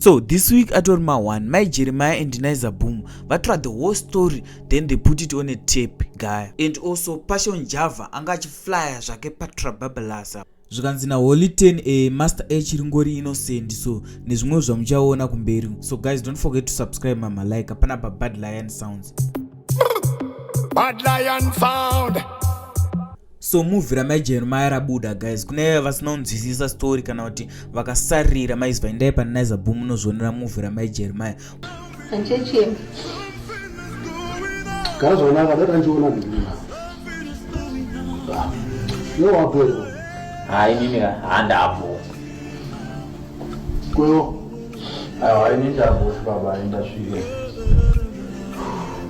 so this week atori ma one mai jeremiah and niza boom vatora the whole story then they put it on a tape gaya and also passion java anga achiflya zvake patrababalasa zvikanzi naholy 10 e eh, master h ringori innocent so nezvimwe zvamuchaona kumberi so guys don't forget to subscribe mama like apana pa bad lion sounds bad lion sound so movie ramai jeremiah rabuda guys kune vasina kunzwisisa story kana kuti vakasarira maiziva endai panaiza boom munozvionera movie ramai jeremiah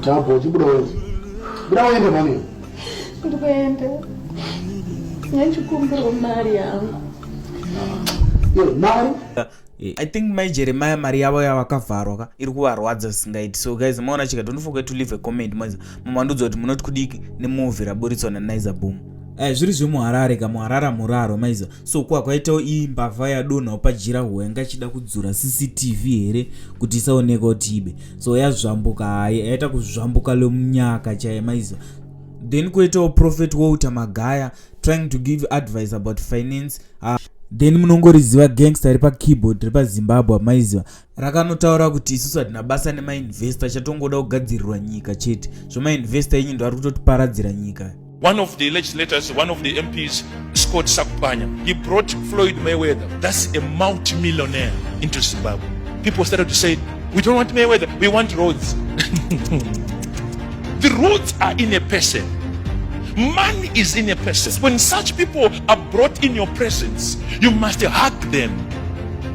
Tabo, chibuda wenzi. Buda wende mani. ndikuenda nechikumbiro mari yangu mari eh, i think mai jeremiah mari yavo yavakavharwa ka iri kuvarwadza zvisingaiti so guys maona chika don't forget to leave a comment mwenza mumandudzo kuti munoti kudiki nemuvi raburitswa nanaiza boom eh, zviri zvemuharare ka muharara muraro maiza so kwakwaitawo iyi mbavha yadonhawo pajira hwo yanga ichida kudzura cctv here kuti isaoneka kuti ibe so yazvambuka hayi yaita kuzvambuka lomunyaka chaiye maiziva then kuitawo prophet walter magaya trying to give advice about finance uh, then munongoriziva gangster ri pakeyboard ri pazimbabwe maiziva rakanotaura kuti isusu hatina basa nemainvesta chatongoda kugadzirirwa nyika chete zvemainvesta enyu ndoari kutotiparadzira nyika one of the legislators one of the mps scott sakupanya he brought floyd mayweather thats a multimillionaire into zimbabwe people started to say we don't want mayweather we want roads the roads are in a person money is in a person when such people are brought in your presence you must hug them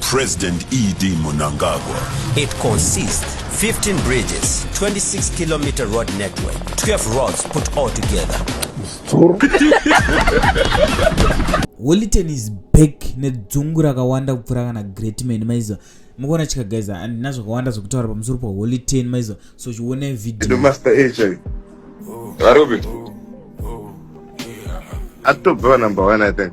President ED Mnangagwa. It consists 15 bridges, 26 kilometer road network, 12 roads put all together. Wellington is back nedzungu rakawanda kupfuura kana Greatman maiziva mukuona chika guys handina zvakawanda zvekutaura pamusoro paWellington maiziva so chione video master agent varubi atobva number 1 i think